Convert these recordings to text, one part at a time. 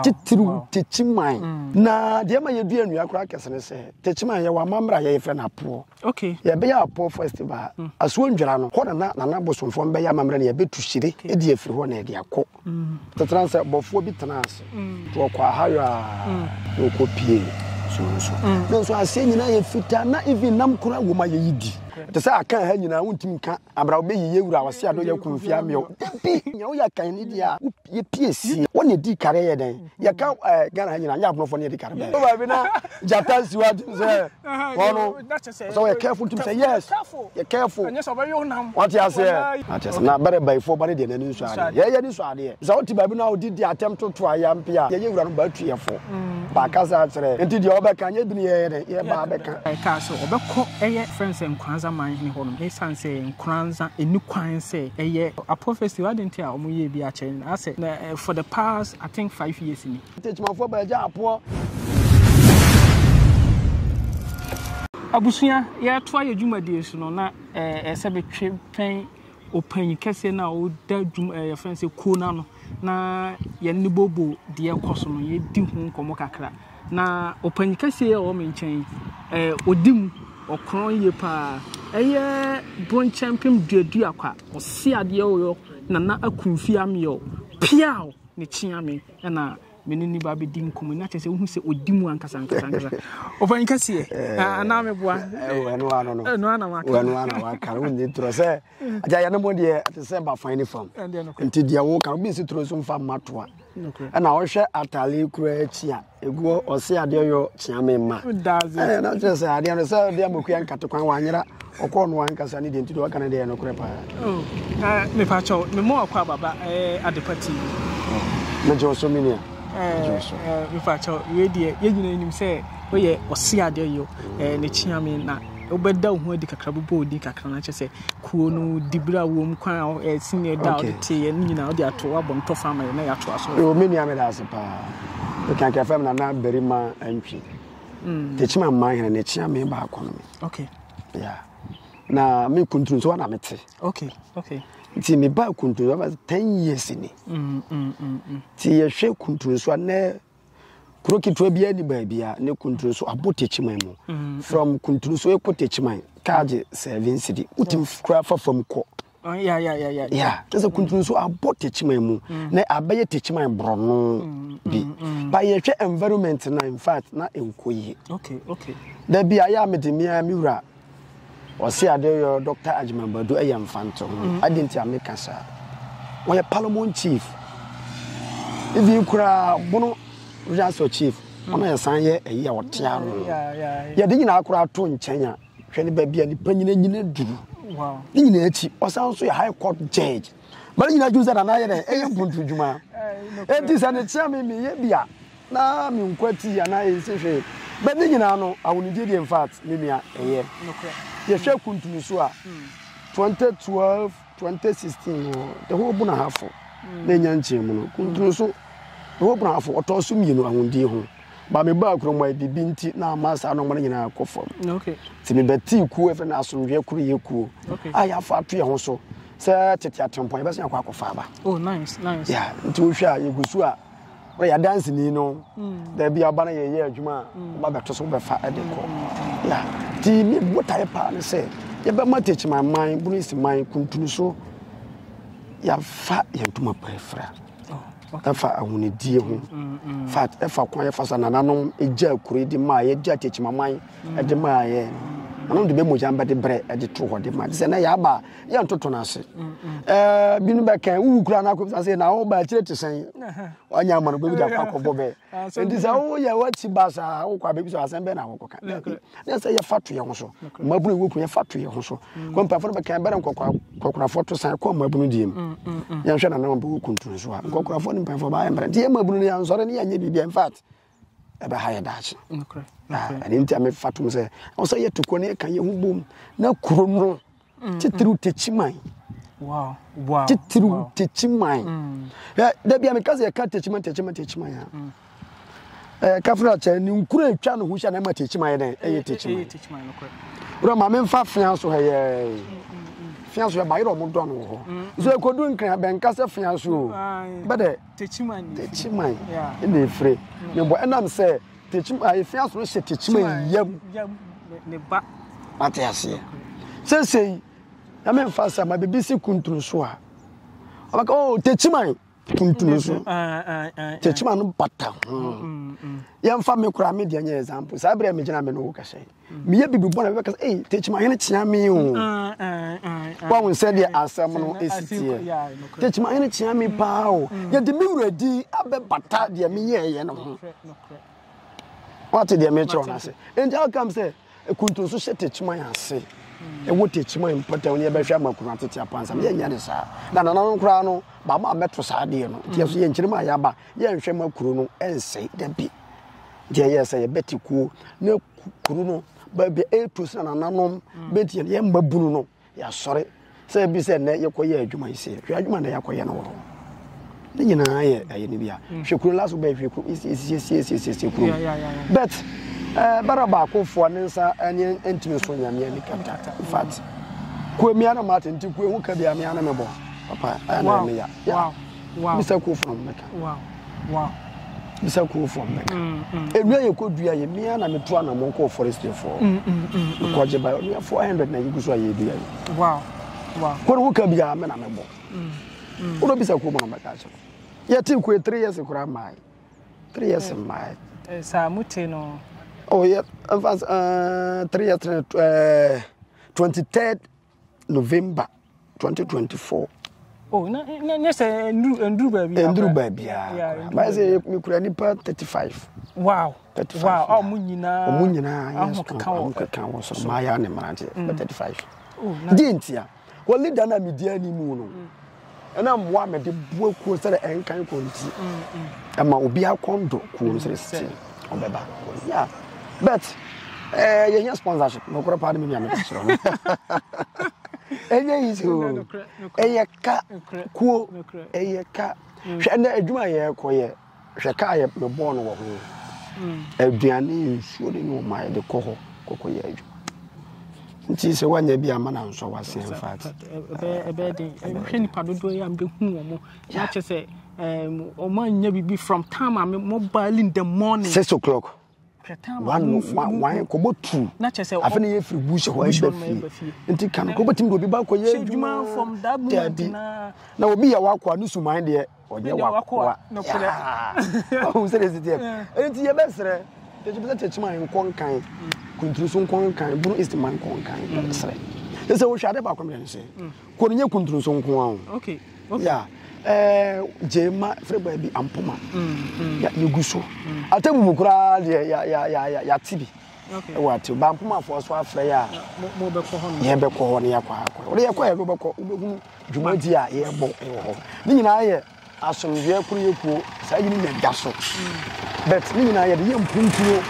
titiriw Techiman. Na deɛ ɛma yɛdua nnua koraa kɛse ne sɛ Techiman yɛwɔ amammerɛ a yɛfrɛ no Apoɔ. Okay. Yɛbɛyɛ Apoɔ festival mm. Asuo Ndwira no, hɔ na na nana bosomfoɔ bɛyɛ amammerɛ na yɛbɛtu hyire ɛdi afiri hɔ na ɛde akɔ. Mm. Tetena sɛ bɔfoɔ bi tena ase mm. to ɔkɔ ahayɔ a mm. na ɔkɔ pie suo no so. Mm. Na nso aseɛ nyinaa yɛ fitaa na even nam koraa wɔ ma yɛyi di. Te sɛ aka ha nyinaa wontumi nka abra wobɛyi yɛ wura ɔse ado yɛ kumfia mmeɛw. Dabi, nea woyɛ kan ne deɛ a yɛpiesie wɔn na ɛdii kare yɛ dɛn yɛka eh, ghana ha nyina nyɛ abonofoɔ ne yɛde kare bɛɛ baabi na gyata nsi hɔ atum sɛ wɔno sɛ wɔyɛ careful tum sɛ yes yɛ careful wate aseɛ akyɛ sɛ na bɛrɛ bayifoɔ ba ne deɛ n'ani nso adeɛ yɛyɛ ne nso adeɛ sɛ wote baabi na wode di atɛm toto ayɛ mpe a yɛyɛ wura no baatuyɛfoɔ mm. baakasa akyerɛ nti deɛ wɔbɛka nyɛ bi ne yɛyɛ dɛn yɛbaa bɛka ɛka sɛ ɔbɛkɔ ɛyɛ frɛ sɛ nkoranza man hene hɔ nom ɛsiane sɛ nkoranza ɛni kwan sɛ ɛyɛ A prophecy adɛn nti a wɔn yɛ bi akyɛ no asɛ na eh, for the past I think five years ni. Ntekyimafo ba agya apoɔ. Abusua yɛtoa yɛ dwumadie so no na eh, ɛsɛ betwe pɛn ɔpanyin kɛseɛ no a ɔda dwum eh, yɛfrɛ no sɛ kuo no ano na yɛne ne bobo deɛ kɔ so no yɛdi ho nkɔmmɔ kakra. Na ɔpanyin kɛseɛ yi a ɔwɔ me nkyɛn yi, ɛɛ ɔdi mu, ɔkorɔn yie pa ara. Ɛyɛ bronkyɛmpem duadua kwa, ɔse adeɛ o yɔ, Nana Akumfie Ameɛ o, piaw! Ne kyea me na me ne no ba bɛdi nkɔmmɔ yi, na kyerɛ sɛ wohu sɛ ɔdi mu ankasa ankasa ankasa. Ɔpanyin kɛseɛ, anaa meboa? Ɛnoa na waka no, wonye torɔ sɛ. Agya yɛne mo deɛ ɛte sɛ bafan ne fam nti deɛ woka obi nsi turo so mfa mma toa ɛna wohwɛ atale kura akyi a ɛguɔ ɔse adeɛ yɔ kyea me mma na kyerɛ sɛ adeɛ no sɛ deɛ mokua nkate kwan wanyera ɔkɔɔ no ankasa ne deɛ nti deɛ ɔka no deɛ nokorɛ paa oh, ah, mepakyɛw memmɔ wakɔ ababa eh, adepa ti oh, megye wo so me nua eh, eh, mepakyɛw wei deɛ yɛnyina nim sɛ woyɛ ɔse adeɛ yɔ ne kyea me na wobɛda wo ho adi kakra, wobɛbɔ wo din kakra, na kyerɛ sɛ kuo no dibere a wɔm kwan a ɛsi ne da a wode teeɛ no nyinaa wode ato abɔ no tɔfa ama yɛ na yɛatoa so. Yo, me nua meda ase paa. Mekanka fam na na barima antwi. Mm. Tekyima mmaa hene ne kyea me baako no me. Okay. Yeah. Na me kuntun nso na mete. Okay. Okay. Nti me ba kuntun so ten years ni. Mm, mm, mm, mm. Ti yɛhwɛ kuntun so a na Kuro ketewa biara ni baabi a ne kunturu so abo tekyiman mu. Mm. From kunturu so ekɔ tekyiman kaa gye seven cedi. Wotim kura fa fam kɔ. Oh, yeah, yeah, yeah, yeah. Yeah, ɛsɛ kuntun so abɔ tekyiman mu mm. na abɛyɛ tekyiman borɔno mm, bi. Mm, ba yɛhwɛ environment na in fact na ɛnkɔ yie. Okay, okay. Da bi a yɛ a mede mmea me wura Ɔse adeɛ yɔ Doctor Agyeman Badu ɛyɛ mfantoho. Adeɛ nti a meka saa. Ɔyɛ Parliament Chief. Even koraa bono Regional Chief. Ɔno yɛ san yɛ ɛyi a ɔte ano. Yɛde nyinaa koraa to nkyɛn a hwɛ ne baabi a nipa nyina nyina duru. Ne nyinaa akyi ɔsan nso yɛ High Court Judge. ma ne nyinaa dwene sɛ nana ayɛ dɛ ɛyɛ mpontodwuma enti sɛ ne kyea me meyɛ bi a na menkwa tii anaa ɛnsi hwee bɛ ne nyinaa no awonidie deɛ infact me nua ɛyɛ yɛhwɛ kuntunu so a 2012 2016 no the whole bonahafo na ɛnya nkyerɛmu no kuntunu so the whole bonahafo ɔtɔɔ so mmienu awonidie ho ba me baa kurom a bibi nti na ama saa nɔma no nyinaa kɔ fam nti mebɛtee kuo ɛfɛ no asomdwoeɛ koro yɛ kuo a yɛafa ato yɛ ho so sɛ tete atempɔn yɛbɛsan akɔ akɔfa aba oh nice nice yeah nti wohwɛ a yɛgu so a wɔn yɛ adanseni no hmm. baabi a ɔba no yɛyɛ adwuma a hmm. ɔba bɛto so bɛfa ɛde kɔ hmm. yeah ti mi botae paa ne sɛ yɛbɛma tekyima man bunisi man kuntunu so yɛafa yɛn ntoma paa fira oh, ɛfa ahonidie ho fa ɛfa kwan yɛfa sa nananom gya akure de maa yɛgya tekyima man de maa yɛ nananom de bɛ mogya bɛde brɛ de to hɔ de ma te sɛ na yɛaba yɛ ntoto no ase eh, binu bɛkɛn wowu kura no akɔbisa sɛ na woba akyire te sɛn wanya ama no bɛbi da kɔakɔbɔ bɛ nti sɛ woyɛ woakyi ba saa wokɔ abɛbi sɛ asɛm bɛ na wokɔka ne sɛ yɛfa to yɛ ho so mmabunu wɔ ku yɛfa to yɛ ho so kɔmpafoɔ no bɛkɛn bɛrɛ nkɔkorafoɔ to san kɔ mmabunu deɛ mu yɛnhwɛ nana ɔbɛwɔ kuntu nso a nkɔkorafoɔ ne mpafoɔ baayɛ mmerɛ nti yɛ mmabunu no yɛnsɔre ne yɛnyɛ biribi in fact ɛbɛha yɛ daakye ɛne nti a mefa tom sɛ ɛwɔ sɛ yɛto kuro no yɛka yɛ ho bom na kuro no mm. titiriw takyi man titiriw takyi man mm. da bia meka sɛ yɛka takyi man takyi man takyi man a mm. kafra kyɛ ne nkuro atwa no ho hyɛ na ɛma takyi man yɛ dɛn ɛyɛ takyi man wura ma memfa fea so hɛyɛɛ fea so yɛ bayerɛ ɔmo dɔ no wɔ hɔ nso ɛkɔdu nkran bɛnka sɛ fea so o bɛdɛ Techiman na efire ne bɔ ɛnam sɛ Techiman efi aso hyɛ Techiman yam ne ba ate aseɛ sesei na me nfa sɛ ma bibi si kuntunu so a ɔbɛka o oh, Techiman kuntunu so ah, ah, ah, Techiman no bata ho mm, mm, mm. yɛmfa me koraa me deɛ nyɛ example saa berɛ a megyina me no wo kɛhyɛ meyɛ biribi bɔne a bɛbɛka sɛ ei tekyimahene kyea me o mm, mm, mm, wahu sɛ deɛ asɛm no ɛsi teɛ tekyimahene kyea me paa o yɛde me wura din abɛbata deɛ meyɛɛyɛ no ho wate deɛ mekyerɛ no ase enti how come sɛ kuntu nso hyɛ tekyiman ase ɛwɔ tekyiman mpɔtam ne yɛbɛhwɛ ama kunu atete apansa no yɛnyɛ ne saa na nananom koraa no baama a mɛto saa deɛ no nti ɛso yɛnkyerɛ mu a yɛaba yɛnhwɛ ma kuro no ɛnsɛe da bi nti ɛyɛ sɛ yɛbɛte kuo na kuru no baabi ɛretu sɛ nananom mm. bɛti yɛn yɛn mma bunu no yɛasɔre sɛ ebi sɛ nnɛ yɛkɔyɛ adwuma yi sɛ hwɛ adwuma na yɛakɔyɛ no wɔ hɔ ne nyinaa yɛ ɛyɛ no bi a mm. hwɛ kuro laso bɛyɛ hwɛ kuro esiesiesiesie kuro but ɛɛ bara baakofoɔ ne nsa ɛne ntumi so nyameɛ ne kata in fact kuo mmea na maa tente kuo ehu kabi amea na mɛbɔ papa ɛyɛ na ɛmɛ ya. bisa kuo fam mɛka bisa kuo fam mɛka mm, mm, mm. nnua yɛ kɔ dua yɛ mmea na metu anamɔ kɔɔ forestry fɔ mekɔgye ba nnua 400 na yɛgu so a yɛdua yɛ kɔne ho ka biaa me na mebɔ wodɔ bisa kuo mu no mɛka kyerɛ yɛte kue 3 years koraa mmae 3 years mmae eh, eh, saa mute no oh, yeah, uh, 3 years uh, 23 november 2024 oh na na nyɛ sɛ nduru nduru baabi nduru baabi a maa sɛ mekura nipa 35 wow 35 wow a ɔmo nyinaa ɔmo nyinaa yɛ strong ɔmo keka wɔ so maa yɛ ne mmeranteɛ 35 deɛ ntia wɔ leader na media ni mu no mm. Ɛna mmoa a mede boa kuo sɛ ɛnkan kɔ nti ɛma obiara kɔn dɔ kuo no sɛ sɛ ɔbɛba yeah but eh, yɛhia sponsorship nokorɛ paa de me nua meka kyerɛ no ɛnyɛ yi sɛ o ɛyɛ ka kuo ɛyɛ ka hwɛ ɛnɛ adwuma yɛkɔyɛ Hwɛ ka a yɛ mebɔɔ no wɔ ho aduane nsuo ne no ma yɛde kɔ hɔ kɔkɔ yɛ adwuma nti sɛ wanya bi ama na nsɔ wase in fact ɛbɛyɛ den hwɛ nipa dodoɔ yɛ a mbɛhu wɔn mo na kyɛ sɛ wɔn anya biribi from time a mo baali in the morning six o'clock wano wan kɔbɔ tu afei na yɛfiri bush hɔ ɛba fie nti ka no kɔbɛtumi de obi ba kɔ yɛ adwuma daabi na obi yɛ wakoa ne suman deɛ ɔnyɛ wakoa ɔhu sɛ ɛsi teɛ ɛnti yɛbɛserɛ tɛkyimi sɛ tɛkyima nkɔ nkan kunturu so nkɔ nkan bunu east man nkɔ nkan yɛbɛserɛ ɛsɛ wohwɛ ade baako mmerɛ no sɛ Kuro no nyɛ kunturu so nko ara o. Okay. Okay. Yeah. Eh, Jema frɛ baabi Ampoma. Mm. mm. Ya yegu so. Mm. Atebu mu koraa deɛ ya ya ya ya ya ti bi. Okay. Ɛwɔ atebu. Ba Ampoma fo so afrɛ ya. Mo bɛ kɔ hɔ no. Yɛn bɛ kɔ hɔ no ya kɔ akɔ. Ɔde yɛ kɔ yɛ bɛ kɔ. Wobɛhunu dwumadi a yɛbɔ ɛwɔ hɔ. Ne nyinaa yɛ Asomdwoeɛ koro yɛ kuo saa yini na ɛda so but ne nyinaa yɛde yɛ mpuntuo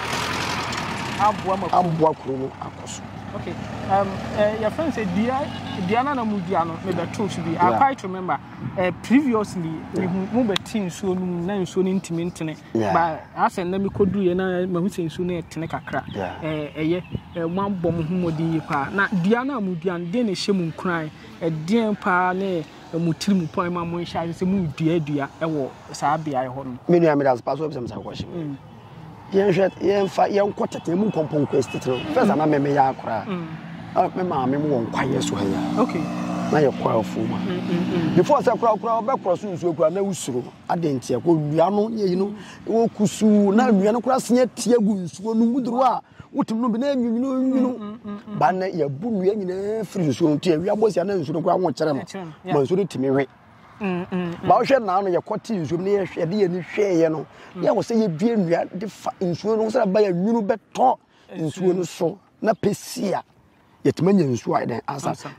aboa ma aboa kuro no akɔ so. Okay, um, uh, eh, your friend said, "Dia, dia na na mudia no me beto so bi." I quite remember. Uh, previously, yeah. me mu beti nsuo no na nsuo no ntimi ntene. Yeah. But asɛn na me kodu ye na ma hu sɛ nsuo no ɛtene kakra. Yeah. Eh, ɛyɛ eh, mo abɔ mo ho mmɔden yie paa. Na dua no a modua no deɛ na ɛhyɛ mu nkuran. Ɛdeɛn paa ne mo tirim pɔn ma mo nhyɛ ase sɛ mo dua dua wɔ saa beaeɛ hɔ no. Me nua me das paso ebisa misa question. Mm. Yɛn hwɛ yɛn fa yɛn kɔ tete mu kɔ pɔn quest tete no. First ana me me ya akora. Mm. Ah me ma me mo won kwa yeso ha ya. Okay. Na yɛ kɔ afu ma. Mm, mm, mm. Before sɛ kora kora ɔbɛ kora so nsuo kora na usuro adentia ko nua no yɛ yi no okusu na nua no kora sia tie gu nsuo no mu duru a. wotum no bi na nwunwununwunu ba na yɛbu nnua nyinaa firi nsuo nti awia bɔ sia na nsuo no koraa ho kyerɛ no ma nsuo no tumi we ba wohwɛ naa no yɛkɔ te nsuo mu na yɛhwɛ de yɛni hwɛeɛ no yɛ wɔ sɛ yɛdua nnua de fa nsuo no sɛ ɛba yɛ nwunu bɛtɔ nsuo no so na pɛsia yɛtumi anya nsuo ayɛ dɛn ansa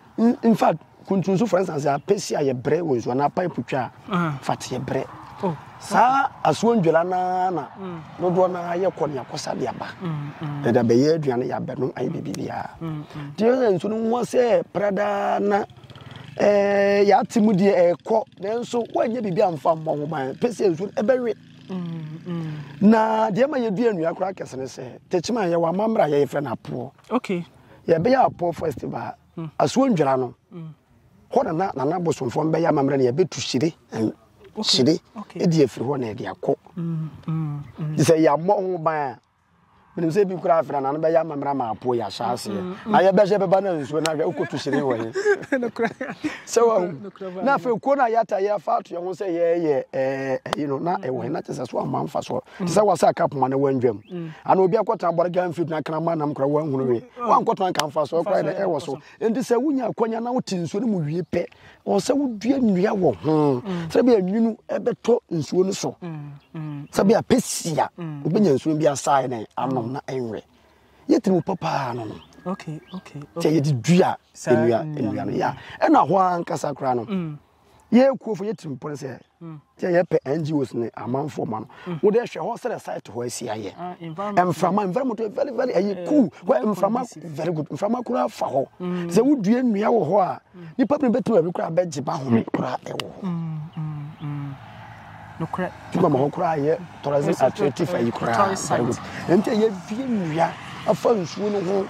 in fact kuntunso for instance apɛsi a yɛbrɛ wɔ nsuo anaa pipe twa a ah. fat yɛbrɛ oh, saa asoɔ ndwela naa na mm. dodoɔ naa yɛkɔ ne akɔsa de aba mm, mm. yɛde abɛyɛ aduane yɛ abɛno ayɛ biribibiaa nti yɛ sɛ nsuo no ho sɛ pradaa na eh, yɛate mu deɛ ɛrekɔ nanso woanyɛ biribi amfa mmɔ ho ban pɛ sɛ nsuo no ɛbɛwe na deɛ ma yɛdua nnua koraa kɛse ne sɛ tɛkyima yɛwɔ amammerɛ a yɛyɛ frɛ no apoɔ okay yɛbɛyɛ apɔ festival hmm. asuo ndwara no hmm. hɔ na na nana bosomfoɔ mbɛyɛ amammerɛ no yɛbɛtu hyire hyire ɛdi afiri hɔ na ɛde akɔ hmm, sɛ yɛammɔ ho ban a menim sɛ bi kora afra na no bɛyɛ amammerɛ ma apo yɛ ahyɛ aseɛ na yɛbɛhyɛ bɛba no nsuo no ahwɛ wokɔtu hyire wɔ he sɛ wahu na afei kuo no a yɛata yɛfa ato yɛ ho sɛ yɛyɛ ɛyi no na ɛwɔ he na kyɛ sɛ so amma mfa soɔ te sɛ wasɛ akapoma no wandwam Ana obi akɔtena bɔre gaa mfiri tena kraman nam kora wanhunu we wankɔtena nka mfasoɔ kora na ɛwɔ so nti sɛ wonya akwanya na wote nsuo no mu wie pɛ ɔwɔ sɛ wodua nnua wɔ ho mm. sɛ bia nwunu ɛbɛtɔ nsuo no so mm, mm. sɛ bia pɛsia wobɛnya nsuo bi asae ne anom na ɛnwɛ yɛtiri wo papaa no no sɛ yɛde dua nnua nnua no yɛ ɛna hɔ ankasa koraa no yɛ kuofo yɛ tirimpɔ no sɛ mm. sɛ yɛpɛ ngos ne amanfoɔ ma no mm. wode hwɛ hɔ sɛ site hɔ asi ayɛ ah, mframa environment very very ɛyɛ eh, cool hɔ mframa very good mframa koraa fa hɔ mm. sɛ wodua nnua wɔ hɔ a nipa bi bɛtumi baabi koraa bɛgye ba home koraa ɛwɔ hɔ nokorɛ. Ti ma ma hɔ koraa yɛ tɔrɛse atrɛti fa yi koraa very good ɛnti a yɛbie nnua afa nsuo no ho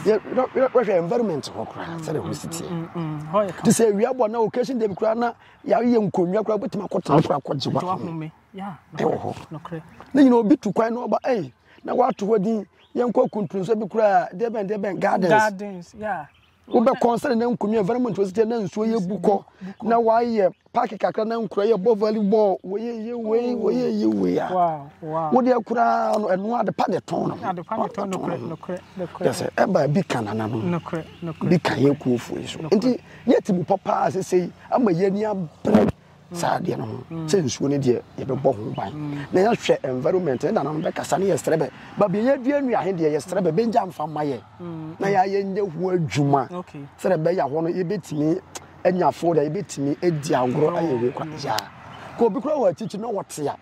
yɛhwɛ environment hɔ koraa sɛdeɛ hɔ si teɛ te sɛ awia bɔ na occasion day koraa na yɛayɛ nkonnwa koraa wobɛtumi akɔtena koraa kɔgye wahome ɛwɔ hɔ ne nyina obi tu kwan na ɔba ɛyi na wato hɔ din yɛnkɔ kuntunso bi koraa deɛ bɛn deɛ bɛn gardens wobɛkɔ sɛde na nkonnwa environment wɔsi kyɛ na nsuo yɛ bu kɔ na wɔayɛ paaki kakra na nkura yɛ bɔ volleyball wɔyɛ yɛ wei wɔyɛ yɛ wei a wode akura no ɛno ade pa de tɔn no yɛsɛ ɛba bi ka nana no bi ka yɛ kuofoɔ yi so nti yɛte mu papa asese ama yɛni abere saa adeɛ no ho sɛ nsuo no deɛ yɛbɛbɔ ho ban na yɛhwɛ environment ne nananom bɛkasa ne yɛsrɛ bɛ baabi a yɛadua nnua he deɛ yɛsrɛ bɛ bɛgya mfa ma yɛ na yɛayɛ nyɛ ho adwuma sɛdɛ bɛyɛ hɔ no yɛbɛtumi anya fo dɛ yɛbɛtumi adi agorɔ ayɛ wei kora yaa ka obi kora wɔ akyikyi na wɔte a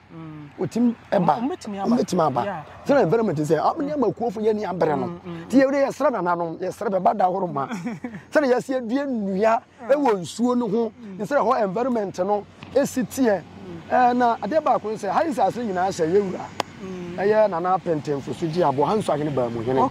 wɔtumi ɛba wɔbɛtumi aba sɛdɛ environment sɛ nneɛma kuofo yɛ ne abrɛ no nti yɛsrɛ nananom yɛsrɛ bɛ ba da horo ma sɛdɛ yɛsɛ adua nnua wɔ nsuo no ho ne sɛ hɔ environment no si teɛ na adeɛ baako ne sɛ ha nsase nyinaa sɛ yɛ wura ɛyɛ nana apɛntɛnfo so gye aboɔ ha nso ahene baa mu hene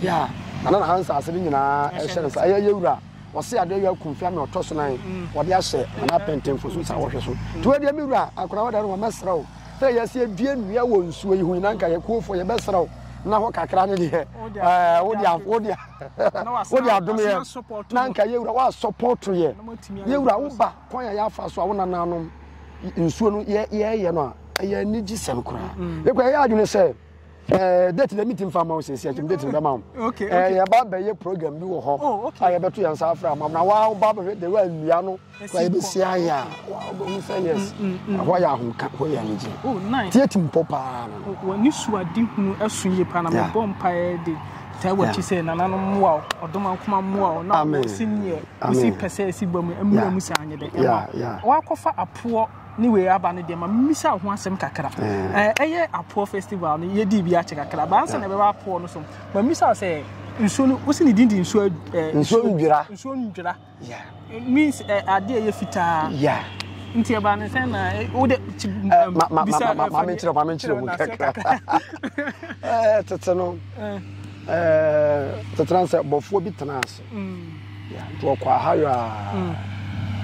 yeah nana na ha nsase no nyinaa ɛhyɛ ne nsa ɛyɛ yɛ wura ɔse adeɛ yɛ akumfia na ɔtɔ so nan wɔde ahyɛ nana apɛntɛnfo so saa wɔhwɛ so nti wɔ deɛ me wura akora wɔda no wɔ mɛsrɛ wo sɛ yɛsi adua nnua wɔ nsuo yi ho nyinaa nka yɛ kuofoɔ yɛbɛsrɛ wo na hɔ kakra ne deɛ ɛɛ wo deɛ wo deɛ wode adom yɛ na nka yɛ wura woasɔpɔto yɛ yɛ wura woba kwan a yɛafa so a wo nananom nsuo no yɛyɛ no a ɛyɛ anigye sɛm koraa mm. yɛkɔ ɛyɛ adwene sɛ eh, date na metim fa ma wo sɛsi akyim date no bɛma wo eh, yɛba bɛyɛ program bi wɔ hɔ oh, a yɛbɛto yɛn nsa afra ma na woba bɛhwɛ de woannua no kora yɛbɛsi ayɛ a wobɛhu sɛ yes mm, mm, mm. hɔ yɛ ahomka hɔ yɛ anigye oh, tiɛ tim pɔ paa no oh, wɔne suade hunu ɛso yie paa na mebɔ mpaeɛ de taa wakyi sɛ nananom mmoa wo ɔdoma nkoma mmoa wo na wɔsi neɛ wosi pɛ sɛ ɛsi ba mu mmira mu sɛ anyɛ dɛ ɛma wakɔfa apoɔ ne wei aba no deɛ ma mmisa ho asɛm kakra eh. ɛyɛ apoɔ festival no yɛdi bi akyɛ kakra baansa na ɛbɛba apoɔ no so ma mmisa sɛ nsuo no wosi ne din de nsuo eh, nsuo ndwira nsuo ndwira Yeah. It means uh, adeɛ yɛ fitaa. Yeah. Nti ɛba ne sɛ na eh, wo de eh, um, bisa eh, maame nkyerɛ maame nkyerɛ mu kakra. Ɛɛ tete no ɛɛ tete na sɛ bɔfoɔ bi tena ase. Mm. Nti ɔkɔ ahayɔ a mm.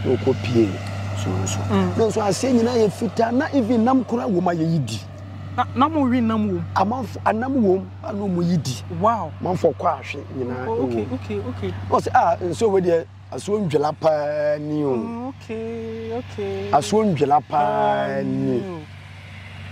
na ɔkɔ pie nsuo nso. Mm. Na nso aseɛ nyinaa yɛ fitaa na even nam kura wɔ mu ayɛ yi di. Na na mo we nam wom. Amanfo anam wom ana ɔmo yi di. Wow. Manfo kɔ ahwe nyinaa oh, okay, wom. Okay, okay. Ɔsɛ a ah, nsuo wei deɛ asuo ndwela paa ni o. Oh, okay, okay. Asuo ndwela paa ni.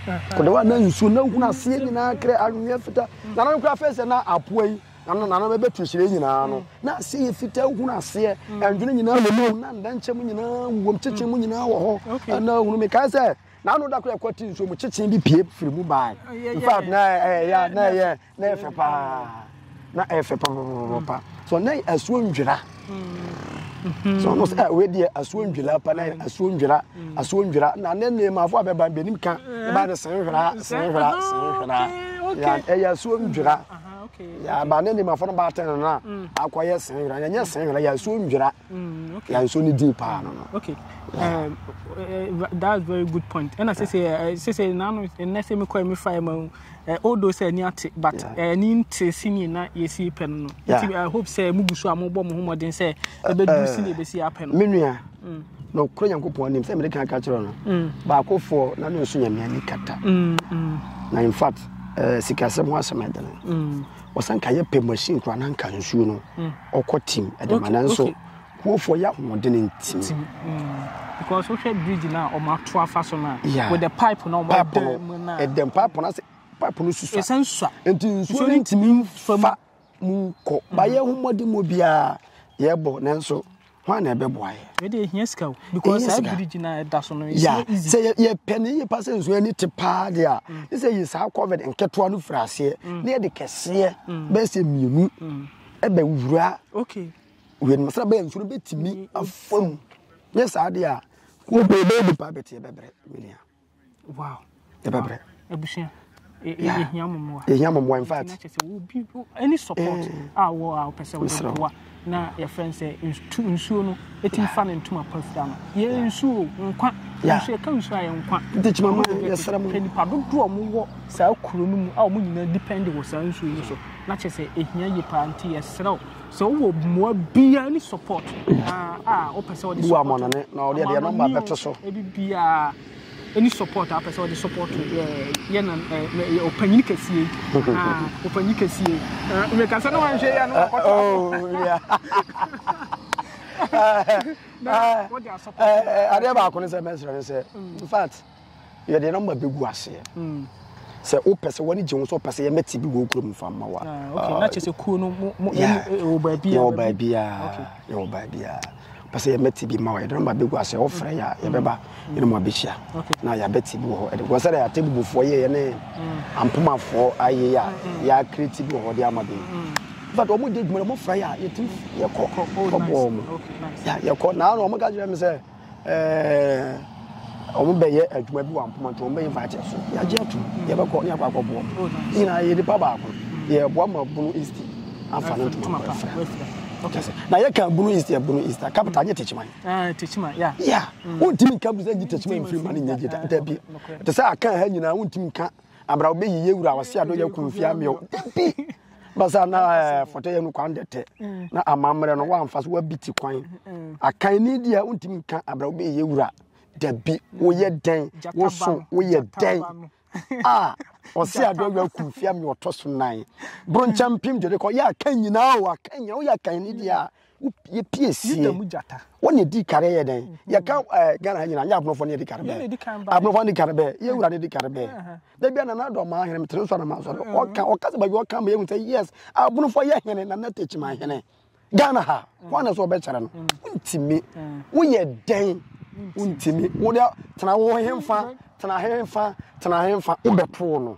Kɔdɛ wa na nsuo na hunu aseɛ nyinaa kere anwea fita. Mm. Nana nkura fɛ sɛ na apoa yi nana nana bɛbɛ tu hyerɛ nyinaa no mm. na aseɛ yɛ fita hunu aseɛ ɛndwene mm. nyinaa wɔ mu na ndɛnkyɛm nyinaa wɔ mu kyekyɛ mu nyinaa wɔ hɔ ɛna hunu mi kae sɛ. na ano da koro ɛkɔ ti nsuo mu kyekyee bi pie firi mu baa in fact na ɛyɛ na ɛyɛ na ɛyɛ fɛ paa na ɛyɛ fɛ paa so na asuo ndwira mm-hmm. so ɔno sɛ ɛwɛ deɛ asuo ndwira pa na asuo ndwira mm. asuo ndwira na ne nneɛmafo a bɛba bɛnim ka eh. ɛba de sɛn hwera sɛn hwera sɛn hwera ah, ɛyɛ asuo ndwira yaba ne nneɛmafo no ba atɛn no na mm. akɔyɛ sɛn hwera yɛnyɛ sɛn hwera yɛ asuo ndwira. Mm, okay. Yeah, so need pa no no. Okay. Yeah. Um, uh, that's very good point. And I say say uh, say say now no and I say me call me fire ma. Uh, although say ni ate but yeah. uh, ni nte sini na ye si pen no. Yeah. I hope say mu busu amu bo mu ho modern say e be du sini be si apen no. Me nua. Mm. No kro Nyankopɔn nim say me kan ka kyerɛ no. Mm. Ba ko fo na no so nyame ani kata. Mm. mm. Na in fact uh, sikasɛm ho asɛm ɛdene mm. wɔsan ka yɛ pɛ machine koraa na nka nsuo no mm. ɔkɔ tim ɛde ma nanso kuofoɔ yɛ ahoɔden ntim mm. because wohwɛ bridge no a ɔmo ato afa so no a with the pipe no ɔmo ɛdɛ mu no a ɛdɛm pipe no ase pipe no susua ɛsɛ nsua nti nsuo no ntumi nfa mu kɔ bayɛ ho mmɔden mu biara yɛbɔ nanso hwan na ɛbɛboa yɛ. ɛde ehia sika o because saa biriji na ɛda so no yɛ easy. sɛ yɛpɛ ne yie pa sɛ nsuo ani te paa deɛ a mm. ne sɛ yɛ saa covid nketewa no firi aseɛ mm. ne yɛde kɛseɛ mm. bɛyɛ sɛ mmienu ɛbɛ wura wei no sɛ bɛyɛ nsuo no bɛtumi afa mu nyɛ saa deɛ a kɔbɛbɛ nipa bɛteɛ bɛbrɛ menua yɛbɛbrɛ abusua yɛhia mo mmoa yɛhia mo mmoa in fact kyɛ sɛ wobi any support eh. a wɔ a wopɛ sɛ wode boa na yɛfrɛ sɛ nsuo no ɛtumi fa no ntoma pafira no yɛ nsuo nkwa nso yɛka nsuo a yɛ nkwa ntikyima ma yɛsrɛ mo nipa dodoɔ a wɔwɔ saa kuro no mu a wɔn nyinaa depend wɔ saa nsuo no so na kyɛ sɛ ɛhia yie paa nti yɛsrɛ wo Sɛ wowɔ mmoa biara ne support a wopɛ sɛ wɔde support. Bu amɔnɔne na wɔde ɛdeɛ nɔmba bɛto so. Ebi biara ɛni support a wopɛ sɛ wɔde support yɛ na ɔpanyin kɛseɛ ɔpanyin kɛseɛ mmekasa na wanhwɛ yɛ no wakɔtɔ adeɛ baako ne sɛ mɛsrɛ ne sɛ in fact yɛde nɔmba bɛgu aseɛ sɛ wopɛ sɛ w'ani gye ho sɛ wopɛ sɛ yɛmɛte bi wɔ kurom mfa mma wa na kyɛ sɛ kuo no yɛwɔ baabiaa yɛwɔ baabiaa pɛ sɛ yɛmɛte bi ma wa yɛde nɔmba bɛgu aseɛ wofrɛ yɛ a yɛbɛba yɛne mu abɛhyia na yɛabɛte bi wɔ hɔ ɛde sɛ dɛ ate bubufoɔ yɛ yɛne ampomafoɔ ayɛ a yɛakreti bi wɔ hɔ de ama bi but wɔn di adwuma na wɔn fira yɛ a yɛtumi yɛkɔ kɔbɔ wɔn yɛkɔ na wɔn ka kyerɛ mi sɛ ɛɛ wɔn bɛyɛ adwuma bi wɔ ampoma nti wɔn bɛyɛ vaakye so yagye atum yɛbɛkɔ ne akɔ akɔboɔ ne nyinaa yɛ nipa baako yɛboa ma bunu east afa ne ntoma kɔ afira na yɛ kan bunu east yɛ bunu east a capital nye tekyima ah, tekyima ya ya mm. wontumi nka bi sɛ nye tekyima mfiri ma ne nye gye da bi te sɛ aka ha nyinaa wontumi nka abira wobɛyi yɛ wura wɔ se ado yɛ kunfia meɛ da bi basa na eh, fɔtɔ yɛ no kwan dɛtɛ mm. na amammerɛ no wamfa so wabi ti kwan mm, mm. akan ni deɛ wontumi nka abrɛ wobɛyɛ wura dabi woyɛ dɛn wo so woyɛ dɛn a ɔse adeɛ wura ku fia me ɔtɔ so nan bronkyɛ mpem dwede kɔ yɛ aka nyinaa o aka nyinaa woyɛ akan ni deɛ a Yɛ pie sie. Yuda mu gyata. Wɔn na edi kare yɛ dɛn? Yɛ ka ɛɛ eh, Ghana ha nyinaa nyɛ aborɔfo na edi kare bɛɛ. Aborɔfo na edi kare bɛɛ. Yɛ wura na edi kare bɛɛ. Dabi a nana adɔ maa hene mi tiri nsɔ na maa sɔrɔ. Ɔka ɔka sɛ baabi ɔka mi ehu sɛ yes aborɔfo yɛ hene na nana tekyi maa hene. Ghana ha wɔn na sɛ ɔbɛkyerɛ no. Ntumi. Woyɛ dɛn? Ntumi. Wo de tena wo henfa tena henfa tena henfa wobɛpoo no.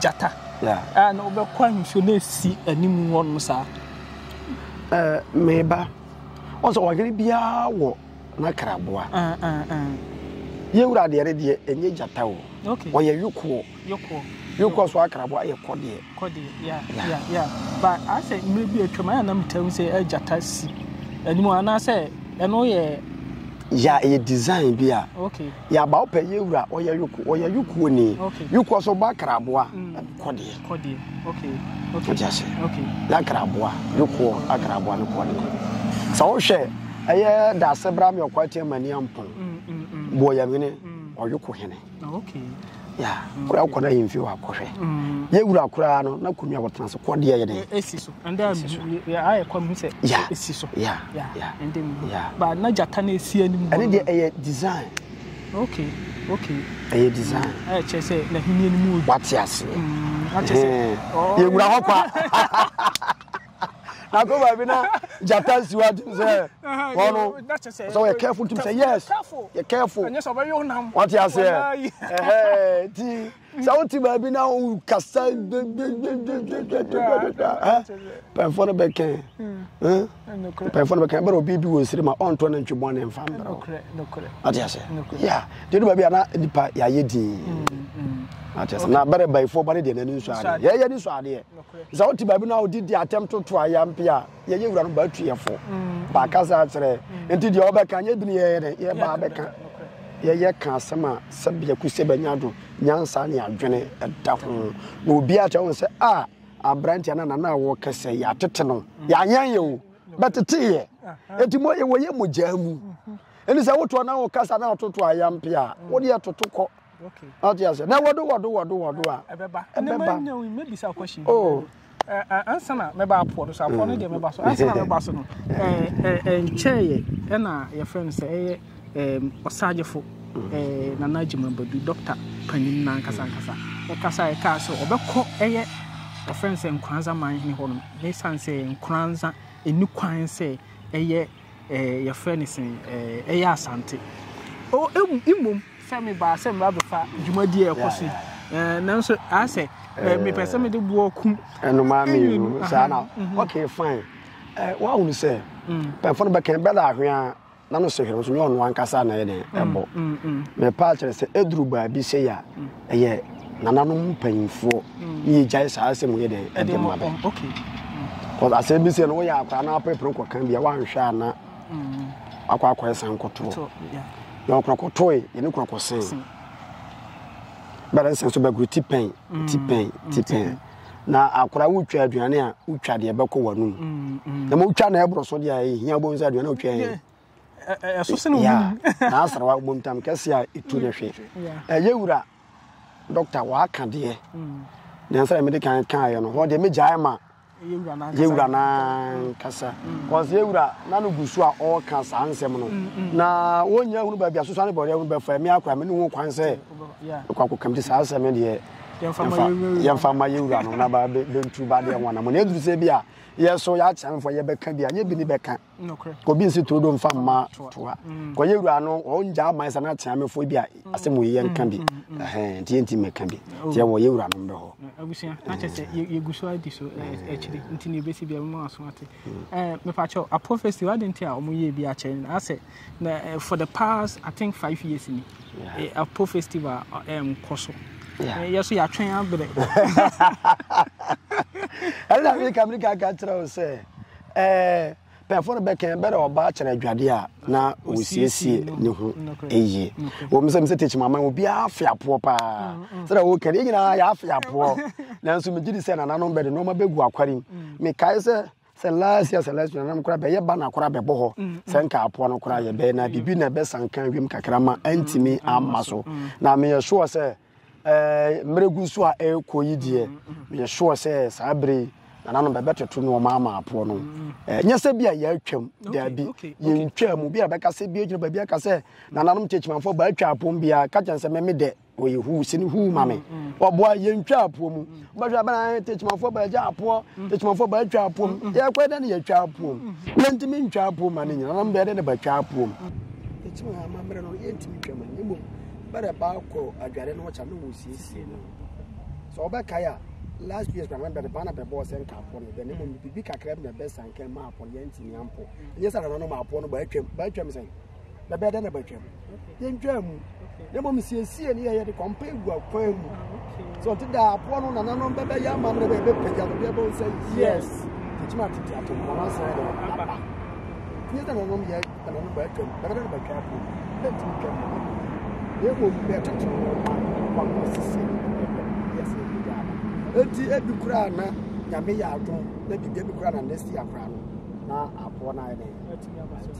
gyata a na wobɛkɔ ahwehwɛ no asi anim hɔnom saa. Ɛɛ meba wɔn sɛ ɔhene biara wɔ n'akraboa. Yɛwura deɛ no deɛ ɛnyɛ gyata o ɔyɛ yokoɔ yokoɔ so akraboa yɛ kɔdeɛ. kɔdeɛ ya ya ya ba asɛ mmerɛ bi atwam ayɛ na metam sɛ ɛgyata si anim anaasɛ ɛno yɛ. ya ɛyɛ design bi a. okay. yaba wo pɛ yɛ wura ɔyɛ yoko ɔyɛ yoko ni yoko ɔsɔ ba karaboa kɔdeɛ kɔdeɛ okay okay ɔdi ase okay na karaboa yoko akaraboa no kɔdeɛ sɛ wohwɛ ɛyɛ daase bra mi ɔkɔ atia mani ampɔn mm, mm, mm. boɔ yɛ mene ɔyoko hene okay ya kura wokɔ na yɛmfie wɔ akɔhwɛ yɛwura koraa no na kɔnua wɔtena so kɔdeɛ yɛ dɛn ɛsi so ɛndɛ ayɛ kɔ mehu sɛ ɛsi so ɛndɛ mu ba na gyata no ɛsi anim ɛne deɛ ɛyɛ design okay okay ɛyɛ design ɛyɛ kyerɛ sɛ n'ahenni anim wɔ wate aseɛ yɛwura hɔ kwa na kɔ baabi na gyata nsi wa tum sɛ wɔn no sɛ wɔyɛ careful tum sɛ yes yɛ careful wɔte aseɛ ɛhɛɛ ti sɛ wote baabi na wo kasa pɛnfoɔ no bɛkɛ pɛnfoɔ no bɛkɛ ɛbɛrɛ obi bi wɔ nsiri ma ɔntɔ ne ntwe bɔne mfa mbrɛ wɔte aseɛ ya deɛ du baabi a na nipa yɛayɛ din wɔte aseɛ na bɛrɛ bayifoɔ ba ne deɛ n'ani nsɔ adeɛ yɛyɛ ne nsɔ adeɛ Sɛ wote baabi no a wode di atɛm toto ayampe a, yɛyɛ wura no baatuɛfo. Mm. Baakasa akyerɛ. Mm. Nti deɛ wɔbɛka nyɛ bini yɛyɛ dɛ yɛbaa bɛka. Yɛyɛ ka asɛm a sɛbea ku sɛ bɛnya do nyansa ne adwene da ho. Na obi akyerɛ ho sɛ a aberanteɛ no nana a wɔka sɛ yɛatete no mm. yɛanyɛn yɛ o bɛteteeɛ. Enti mo wɔyɛ mogyaa mu. Mm-hmm. Ɛne sɛ wotoɔ na wokasa na wototo ayampe a, wodeɛ toto kɔ. Okay. Ɔte ase. Na wɔdo wɔdo wɔdo wɔdo a. Ɛbɛba. Ɛnna mɛ nya wo mɛ bisa question. Oh. Ansa na mɛ ba apoɔ no so apoɔ no deɛ mɛ ba so ansa na mɛ ba so no ɛɛ ɛɛ nkyɛn yɛ ɛna yɛ fɛn no sɛ ɛyɛ ɛɛ ɔsagyefo ɛɛ nana adwuma badu dɔkta panyin na nkasa nkasa ɔkasa yɛ kaa sɛ ɔbɛkɔ ɛyɛ ɔfɛn sɛ nkoranza man hene hɔ no ne san sɛ nkoranza ɛni kwan sɛ ɛyɛ. ɛɛ yɛfrɛ no sɛn ɛɛ ɛyɛ Asante. O emu mmom sɛ mebaa sɛ meba bɛfa dwumadie a ɛkɔ so yi ɛɛ nanso asɛ ɛɛ mepɛ sɛ mede boɔ kum. Ɛnoma mmienu saa na mhm. okay fine ɛɛ wahunu sɛ mm. pɛnfo no bɛkɛn bɛda ahwea na no sɛ hwɛ no so nyɛ ɔno ankasa na ɛyɛ dɛn ɛbɔ mepaa kyerɛ sɛ ɛduru baabi sɛ yɛ a. ɛyɛ nananom mpanyinfoɔ ne yɛ gyae saa asɛm yɛ dɛ ɛde ma bɛ kɔs asɛm bi sɛ no woyɛ akwadaa na apepere kɔka bia woanhwɛ a na mm. akɔ akɔyɛ san kɔtoɔ na ɔkɔkɔtoe yɛne kɔkɔsen bɛrɛ nsɛm so bɛgoro ti pɛn mm. ti pɛn ti pɛn na akora wotwa aduane a wotwa deɛ bɛkɔ w'anom mm, mm. na ma wotwa na ɛborɔ so deɛ ɛhia bɔ nsa aduane a wotwa yɛ ɛso sɛ na ɔmum na asra wa ɔmum tam kɛse a ɛtu no hwe ɛyɛ wura dɔkta waaka deɛ mm. nansa na mede kan kaeɛ no hɔ deɛ megyae ma yɛwura no ankasa bcause mm. yɛwura na no gu so a ɔreka saa nsɛm no mm, na wɔnya hunu baabi asosa ne bɔdeɛ hunu bɛfa me akora me ne ho kwan sɛ ɛkɔakɔkam te saa asɛm no deɛ yɛmfa ma yɛwura no na bɛntu ba deɛ ho anamɔ na ɛduru sɛ bi a yɛso yɛakyerɛ mfo yɛbɛka bi a nyɛ bi ne bɛka obi nsi turo do nfa mma toa mm. kɔyɛ wura no ɔngya ama sɛ na akyea mefo bi a mm. asɛm wɔ yɛ nka bi mm. ɛhɛn nti yɛnti mɛka bi oh. nti ɛwɔ yɛ wura no mbɛ hɔ. abusua na kyɛ sɛ yɛgu so adi so akyiri nti na ebesi bi a mo aso ate ɛɛ mepakyɛw apofesi wadi nti a wɔn yɛ bi akyɛ no asɛ na for the past i think five years ni apo festival ɛɛm kɔ so yɛ so yɛatwɛn abrɛ ɛna meka meka ka kyerɛ wo sɛ Ɛɛ, pɛɛfo no bɛkɛn bɛ dɛ ɔbaa kyerɛ adwade a na osiesie ne ho yie. Wɔ mu sɛ mesɛ tekyim aman obiara afe apoɔ paa. Sɛ dɛ wokɛ no, yɛn nyinaa yɛafe apoɔ. Nanso megye di sɛ nananom bɛde nneɛma bɛgu akwarim. Mekae sɛ sɛ last year sɛ last year nananom koraa bɛyɛ ba na koraa bɛbɔ hɔ. Sɛ nka apoɔ no koraa yɛbɛyɛ na biribi na ɛbɛsan ka wiem kakra ma antumi amma so. Na meyɛ sure sɛ mmerɛ gu so a ɛrekɔ yi deɛ meyɛ sure sɛ saa berɛ yi nananom bɛbɛtoto nneɛma ama apoɔ no ɛnyɛ sɛ bi a yɛatwam daabi yɛntwaa mu bi a bɛka sɛ bi agyina baabi aka sɛ nananom kyekyimanfoɔ baatwa apom biara ka kyɛn sɛ meme dɛ ɔyɛ huu sene huu ma me ɔboa yɛntwa apoɔ mu Bɛhwɛ abɛn ayɛ tekyemafoɔ bɛgya apoɔ tekyemafoɔ bɛtwa apoom yɛkɔ dɛ ne yɛtwa apoom yɛntumi ntwa apoom ma ne nyina nam bɛyɛ dɛ ne bɛtwa apoom ɛkyim ha ma mmerɛ no yɛntumi twa ma ne mmom bɛdɛ baakɔ adware no wɔkya ne wɔsiesie no sɛ wɔbɛkae a last years na bɛde bana bɛbɔ sɛ nka apɔ no bɛne mmom biribi kakra bi na bɛsa nka ma apɔ no yɛntumi ampɔ ɛnyɛ sɛ nananom apɔ no bɛatwam bɛatwam sɛn na bɛyɛ dɛ na bɛtwam yɛntwaa mu na mmom siesie ne yɛyɛ de kɔmpa egu akwan mu sɛ ɔte da aboa no nananom bɛbɛyɛ ama no bɛbɛ bɛpagya no bɛbɛ sɛ yes ɛkyim atete atɔmmɔn asɛn no aba nyɛ dɛ nananom yɛ nananom bɛtwam bɛbɛ dɛ na bɛtwa akɔ bɛntumi twam no na mmom bɛtete no kɔmpa sisi yɛsɛ ɛbɛgya aba enti ebi koraa na nyame yɛ adom na biribi ebi koraa na nɛsi akora no na aboa no ayɛ dɛ ɛtumi aba so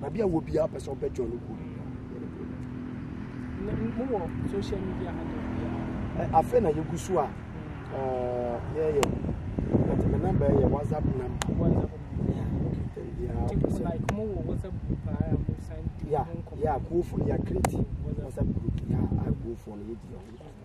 baabi a wɔ biara pɛ sɛ ɔbɛ join no kuo afei na yɛgu so a yɛyɛ but me number yɛ whatsapp number yeah, yeah, go for yeah, create WhatsApp group. Yeah, I go for it.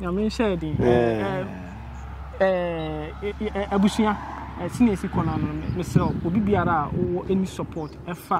nyame nhyɛ yɛ den abusua ɛsene ɛsi kɔ no ano mesrɛ obi biara a wɔ any support ɛfa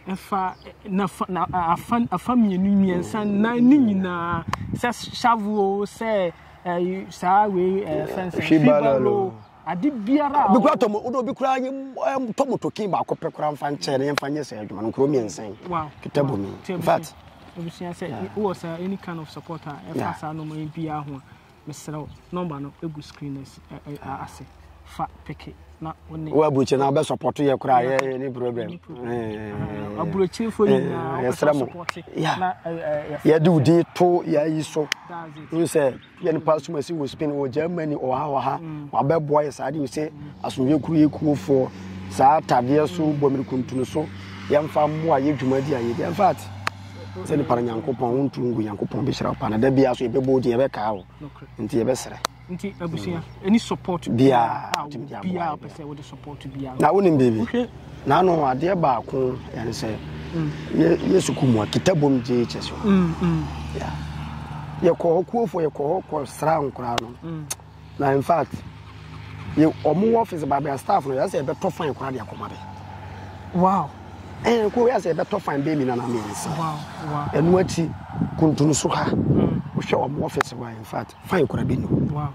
ɛfa nafa na afa afa mmienu mmiɛnsa nan ne nyinaa sɛ shavu o sɛ ɛyi saa wei ɛɛ fɛn sɛ fibalo ade biara a. obi kura tɔmɔ o de obi kura nye ɛm tɔmɔ tokin baako pɛ kura nfa nkyɛn ne nfa nyɛ sɛ adwuma no nkuro mmiɛnsa yi. wow kita bu mi in fact. ebusua sɛ wɔ sɛ any kind of support a ɛfa saa nneɛma yi biara ho a. Mesrɛ wo, nɔmba no gu screen no asi ɛ ɛ ase. Fa peke na wo ne. Wo aburokyire na wobɛ support yɛ koraa yɛ yɛ ni problem. Ɛni problem. Ɛɛ. Aburokyirefo nyinaa wopɛ sɛ support na ɛɛ. Yɛde wo din to yɛ ayi so. Wohu sɛ yɛ ne Pastor Masi wɔ Spain wɔ Germany wɔ ha wɔ ha. Wabɛboa yɛ saa de sɛ asomdwe kuro yɛ kuofoɔ saa tadeɛ so bɔ mmirikuntunu so yɛmfa mmoa yɛ dwumadi a yɛdi in fact. sɛ nipa no nyankopɔn wontu ngu nyankopɔn bɛhyira wo pa na da biara so yɛbɛbɔ wo din yɛbɛkaa wo nti yɛbɛserɛ nti abusua ɛni mm. support biara biara pɛ sɛ wode support biara na wonim biribi na ano adeɛ baako ɛne sɛ mm. yɛ sukuu mu a kitabom gye kyɛ so mm, yɛkɔ hɔ kuofoɔ yɛkɔ hɔ kɔ sra nkoraa no Na in fact yɛ ɔmo wɔ ɔfis baabi a staff no yɛ sɛ ɛbɛtɔ fine koraa de akɔma bɛ. Wow. Ɛn eh, kuro yɛ sɛ ɛbɛtɔ fine bɛɛ mi na na mi yɛ si. Wow wow. Ɛnu akyi kuntun so ha. Mm. Wohwɛ ɔmo ɔfis wa in fact fine koraa bɛ nu. Wow.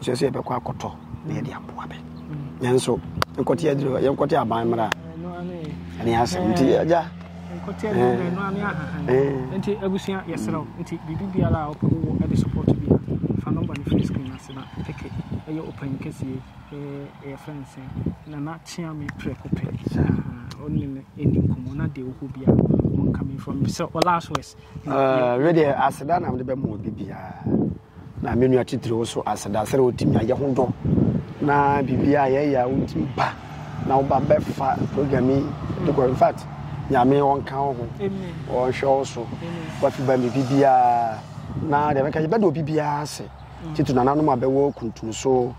So yɛ sɛ ɛbɛkɔ akɔtɔ na yɛde aboa bɛ. Mm. Nanso nkɔte adiri yɛn nkɔte aban mmerɛ a ɛne asɛm nti agya. Nkɔtɛ ne mmɛnoa ne ahahan. Nti abusua yɛsrɛ wo nti biribi biara a wopɛ wowɔ ɛde support bi a fa number no firi screen ase na peke ɛyɛ ɔpanyin kɛseɛ ɛɛ yɛfrɛ no sɛn Nana Kyeame Prɛko Pɛ ahaa ɔne no ɛni nkɔmmɔ na deɛ ɔhɔ biara ɔnka me from sɛ ɔlast west. Ɛɛ wedeɛ aseda na mede bɛma obi biara. Na me nua titiriw wo so aseda sɛdɛ wotumi a yɛ ho dɔ na biribiaa a yɛyɛ a wotumi ba na woba bɛfa program yi de kɔ infact nyame ɔnka wo ho ɔnhwɛ wo so wafi ba mi biribiaa na deɛ bɛka yɛbɛda obi biaa ase titiri nananom a bɛwɔ kuntum so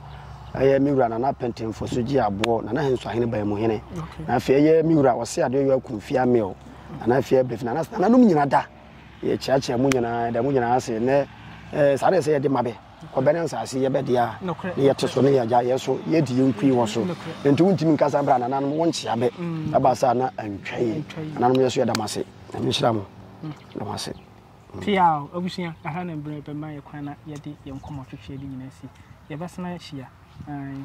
ɛyɛ me wura nana pɛntɛmfo so gye aboɔ nana henso ahene baa mu hene na afei ɛyɛ me wura ɔse adeɛ yɔ akumfia mil nana afei abɛfi nananom nyina da Yɛkyeakyea mo nyinaa, yɛda mo nyinaa ase. Nɛ eh, saa na ɛsɛ yɛde ma bɛ. Ɔbɛ ne nsaase yɛ bɛ dea, ne yɛte so ne yɛagya yɛ so, yɛdi yɛn nkui wɔ so. Nti wontumi nka saa berɛ a nananom wonkyea bɛ. Ɛba saa na antwa yi. Nananom yɛ so yɛda mo ase. Nyame nhyira mo. Yɛda mo ase. Pia o, abusua, aha na mbrɛ bɛma yɛ kwan na yɛde yɛn nkɔmmɔtwetweɛ de nyinaa si. Yɛbɛsan ahyia. Ae.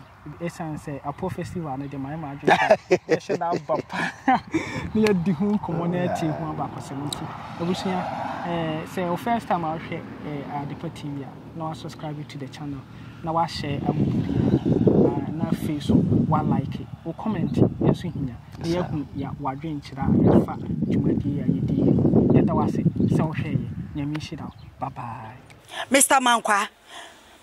Ɛsiane sɛ Apo Festival no de mayɛ m'adwene sɛ yɛhyɛ da aba pa na yɛdi ho nkɔmmɔ na yɛte ho abakɔsɛm nti, abusua, eh, sɛ wo first time a wohwɛ eh, Adepa TV a, na wasubscribe to the channel, na wahyɛ ama biribiara, na afei so walike, wo comment nso hia, na yɛahu ya wadwenkyerɛ a ɛfa dwumadie a yɛdi yɛ. Yɛda wo ase sɛ wohwɛeɛ, nyame nhyira wo, bye bye. Mister Mankwa,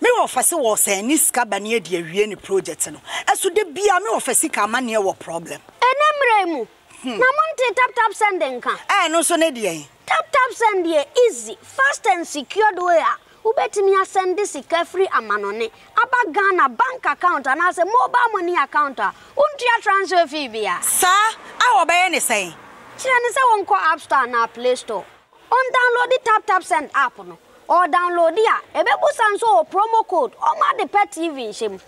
Me wɔfa se wɔsɛn ne sika bane adi awie ne project no so da biaa me wɔfa sika amaneɛ wɔ problem. Ɛnɛ mmerɛ yi mu na mo ntee tap tap send nka. Ɛno nso ne deɛn? Tap tap send yɛ easy, fast and secured way a wobɛtumi asɛnde sika firi amanɔne aba Ghana bank account anaasɛ mobile money account a wontua transfer fee biara. Saa? A wɔbɛyɛ ne sɛn? Kyerɛ no sɛ wɔnkɔ App Store anaa Play Store. Ɔndownloadi TapTapSend app no, ɔdownloadi a, ɛbɛbusa nso wɔ promo code ɔma ade pɛ TV nhyɛ mu.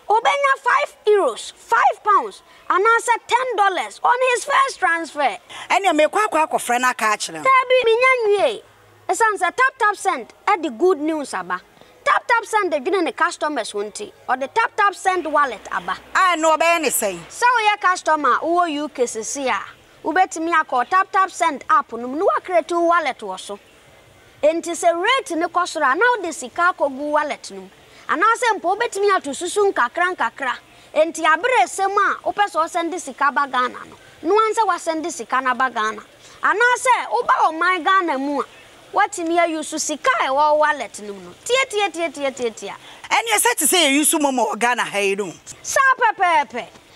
Ɔbɛnya five Euros, five pounds, anaasɛ ten dollars on his first transfer. Ɛneɛ mekɔ akɔ akɔfrɛ no aka akyerɛ no. Daabi, menya nwiee. Ɛsiane sɛ TapTapSend de good news aba. TapTapSend dwene ne customers ho nti, ɔde TapTapSend Wallet aba. A ɛno ɔbɛyɛ ne sɛn? Sɛ woyɛ customer a wowɔ UK sesei a, Wobɛtumi akɔ wo TapTapSend app no mu na woacreate wo wallet wɔ so. Enti sɛ rate no kɔ soro a, na wode sika akɔgu wo wallet no mu. Anaasɛ mpo wobɛtumi ato susu nkakrankakra. Enti aberɛ ɛsɛ mu a wopɛ sɛ wosɛnde sika ba Ghana no, no ara sɛ woasɛnde sika no aba Ghana. Anaasɛ woba ɔman Ghana mu a, woatumi a use sika a ɛwɔ wo wallet no mu no. Tiatiatiatiatiatia. Ɛneɛ sɛ te sɛ yɛ use momo wɔ Ghana ha yi no. Saa pɛpɛɛpɛ.